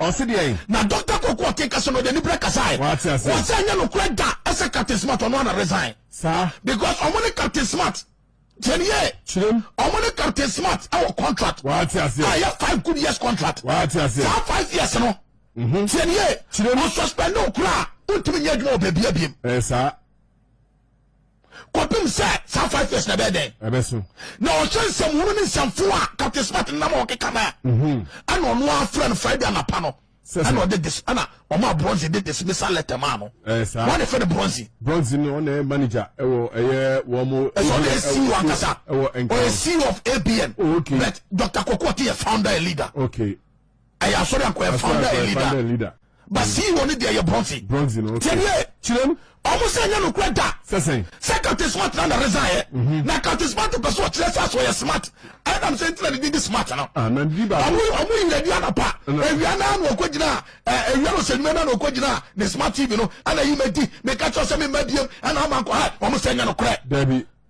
Ɔse deɛn? Na Doctor Kwaku Ɔkeka so no ɔde anibere kasae. Wate aseɛ. Ɔse ɛnyɛ nokorɛ da sɛ Captain Smart ɔno ara na resign. Saa. Because ɔmo ne Captain Smart tie no yie. Kyerem. Ɔmo ne Captain Smart ɛwɔ contract. Wate aseɛ. A ɛyɛ five good years contract. Wate aseɛ. Saa five years no. Mhm. Tie no yie. Kyerem. Ɔsuspend no koraa a wontumi nyɛ adwuma wɔ baabi abiem. Ɛyɛ saa. kɔpem sɛ saa five years na ɛbɛyɛ dɛn ɛbɛso na ɔhyɛ nsɛmhunu ne nsɛmfo a captain smart nam a ɔkeka no a mhm. ɛna ɔno afrɛ no friday anapa no ɛna ɔde dis ɛna ɔma bronze de dismissal letter maa no wɔn de fɛ no bronze bronze no ɔna yɛ manager ɛwɔ ɛyɛ wɔn mo ɛsɛ ɔna yɛ ceo ankasa ɛwɔ nkran ɔyɛ ceo of abn oh, okay but dr koko ɔte yɛ founder and leader okay ɛyɛ asɔre anko yɛ founder and leader ba ceo ne deɛ yɛ bronze bronze no okay tiɛniɛ kyerɛm ɔmo sɛ ɛnyɛ nokura da sɛsɛn sɛ captain smart na na resign yɛ mhm. na captain smart pɛ so ɔkyerɛ sɛ aso ɔyɛ smart ɛnam sɛ ntina ne din de smart no ah, ɔmo ɔmo yi yɛdi anapa ewia naa na ɔkɔ gyina ɛɛ ewia na ɔsɛ nwuma naa na ɔkɔ gyina ne smart tv no ɛna yi ma di meka kyerɛ sɛ mi ma biem ɛna ama nkɔ ha ɔmo sɛ ɛnyɛ nokura.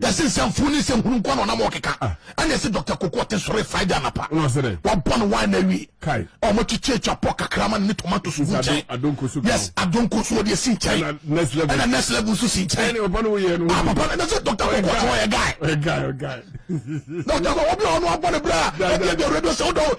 yɛse nsɛmfo ne nsɛnhunu nko na ɔnam ɔkeka ah. ɛne ɛse dr koko ɔte sɔre friday anapa wabɔ no wine awie ɔmo twekye atwa pɔ kakra ma ne tomato so gu nkyɛn yes adonko so wɔde asi nkyɛn ɛna next level nso si nkyɛn ah, papa no ɛna sɛ dr koko ɔte ɔyɛ guy dr koko obi a ɔno abɔ ne berɛ a ɛdeɛ deɛ radio sɛ wodɔ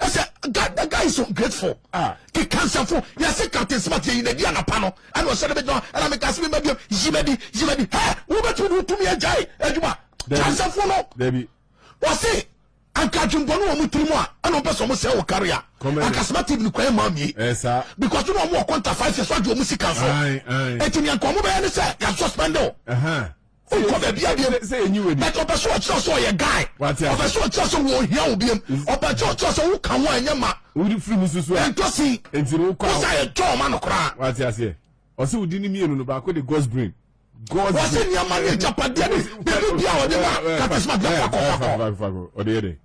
I said, God, the guy is ungrateful. Ah. The cancer for yes, a cat is but in the Diana panel. I was said, and I'm a Cassim, maybe Zimedi, Zimedi. Hey, who bet you to me a jay, Eduma? Cancer for no, baby. Was it? anka dwembɔne wɔ mu tirim a ɛna ɔmpɛ sɛ ɔmo sɛ wɔ kare a anka smart tv kwan ma mie because na ɔmo wɔ kɔnta five years ɔgye ɔmo sika so ɛti nea nka ɔmo bɛyɛ ne sɛ yɛasuspɛnde o wokɔ baabi abiem bɛtɛ ɔpɛ sɛ ɔkyerɛ sɛ ɔyɛ guy ɔpɛ sɛ ɔkyerɛ sɛ wɔhia wo biem ɔpɛ sɛ ɔkyerɛ sɛ woka ho a ɛnyɛ ma wode firi mu susu a ɛntɔsi wosa yɛ dɔ ɔma no koraa wate aseɛ ɔsɛ wodi ne mmienu no baako de god's brain wɔsɛ nneɛma ne agyapadeɛ ne biribi bia ɔde ma katesma bia fakɔ fakɔ ɔde yɛ dɛn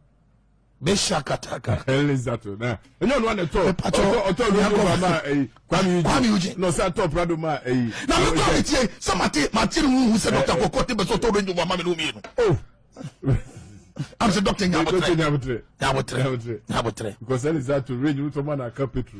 mehyia kataka. ɛlɛ zato na ɛnyɛ ɔno ana tɔ ɔtɔ ɔtɔ lóko ba ma ɛyi kwami yi kwami yi jɛ na ɔsɛ atɔ prado ma ɛyi. na mi kura mi tie sɛ ma te ma te ni huhu sɛ dɔkita kɔkɔ te bɛ sɔ tɔ lóko ba ma mi n'omi yenu. o am sɛ dɔkita nya abotire nya abotire nya abotire. because ɛlɛ zato range wotɔ ma na aka petro.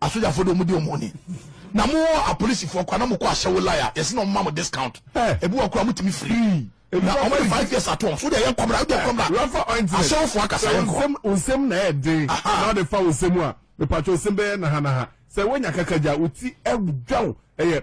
asogyafo de wɔn di wɔn ni na mo wɔ apolisifoɔ kora na mo kɔ ahyɛwo lai a yɛsi na wɔn ma mo discount ebi wɔ kora mo tumi firi na wɔn ayɛ five years ato wɔn so deɛ yɛ nkɔmra yɛ deɛ nkɔmra ahyɛwofo akasa yɛ nkɔ. nsɛm na ɛyɛ den na ɔde fa nsɛm a mepatwa nsɛm bɛyɛ nahanaha sɛ wonya kakagya wo ti ɛdwaw ɛyɛ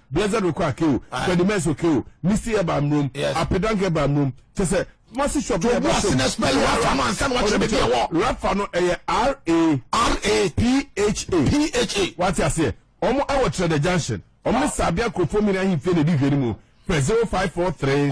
Blessed Oko Ake o, Freddy Mess Oke o, Misty Eba Mrom, Apedanka Eba Mrom, kyɛ sɛ Kumasi shop yɛ ba shop. Rapha no ɛyɛ R A R A P H A P H A. Wate aseɛ? Wɔn ɛwɔ Trɛdɛ junction. Wɔn ne Sabia Kurofo Mini Ahemfie na edi hwɛ no mu. Fɛ zero five four three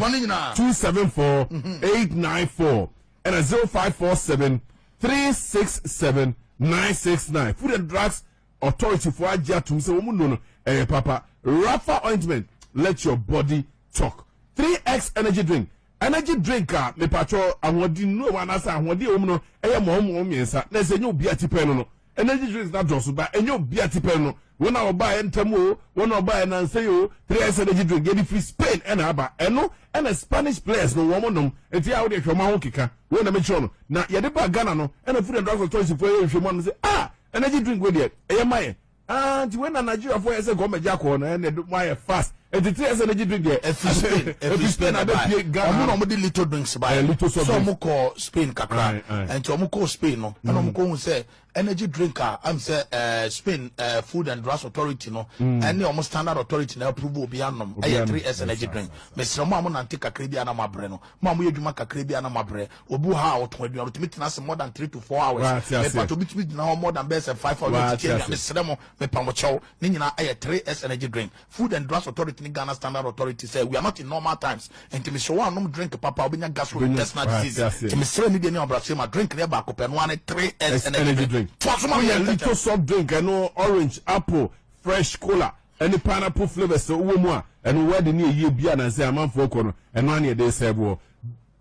two seven four eight nine four ɛna zero five four seven three six seven nine six nine. Food and drugs. authority fo agye atom sɛ wɔn nnuro no ɛyɛ papa rafa ointment let your body talk 3x energy drink energy drink a mepatwɔ ahoɔden nnuro wɔ anaasɛ ahoɔden wɔm no ɛyɛ mɔmɔɔ mmiɛnsa na ɛsɛ ɛnyɛ obi a tipɛn no no energy drinks na dɔɔso ba ɛnyɛ obi a tipɛn no wɔn a ɔbaa yɛ ntɛm o wɔn a ɔbaa yɛ nansa yi o 3x energy drink yɛde firi spain ɛna aba ɛno ɛna spanish players no wɔn nom nti a wɔde ɛhwɛ wɔn ho keka wɔn na mekyerɛ no na yɛde ba ghana no ɛna food and drug authority fo ɛyɛ nhwɛ mu anam sɛ ah Energy drink wei deɛ ɛyɛ ma yɛ. Ah, nti wei na Nigeriafoɔ yɛ sɛ gɔmɛgye akɔɔ no ɛnna ɛde mo ayɛ fast. Ɛti tiri yɛ sɛ energy drink deɛ. Ɛfi Spain, ɛfi Spain na bɛ pie Ghana. Ɔmo na ɔmo de little drinks ba yɛ. Little soft drinks. So ɔmo kɔ Spain kakra. Ɛnti ɔmo kɔ Spain no, ɛna ɔmo kɔ hu sɛ energy drink a am sɛ ɛɛ Spain ɛɛ food and drugs authority no ɛne ɔmo standard authority na approve obi anom ɛyɛ three S energy drink. Mesrɛ mo a mo nante kakra bi a na mo abrɛ no, mo a mo yɛ adwuma kakra bi a na mo abrɛ. obi wɔ ha a ɔtɔn aduane otumi tena ase more than three to four hours mepatɔ obi tumi gyina hɔ more than bɛyɛ sɛ five hours ɔtete aduane srɛ mo mepa mo kyɛw ne nyinaa ɛyɛ three s energy drink food and drugs authority ne ghana standard authority sɛ we are not in normal times nti mesrɛ wo anom drink papa wobɛnya gastrointestinal disease nti mesrɛ ne deɛ ne ɔbrasɛ ma drink ne ɛbaako pɛ no ane three s energy drink toa so ma woyɛ little soft drink ɛno orange apple fresh cola ɛne pineapple flavours wɔ mu a ɛno wɛde ne ɛyie bi a nansɛ amanfoɔ kɔ no ɛno ane ɛde sɛ boɔ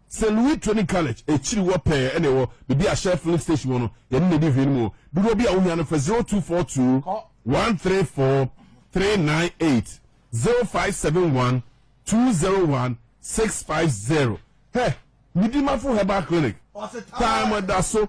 Saint Louis Training College akyiri hɔ pɛɛ ɛna ɛwɔ bebi a Shell filling station wɔ no, yɛne na edi hwee no mu o. Dodoɔ bi a wohia no frɛ zero two four two one three four three nine eight zero five seven one two zero one six five zero. Hɛ! Midimafo Herbal Clinic, time da so.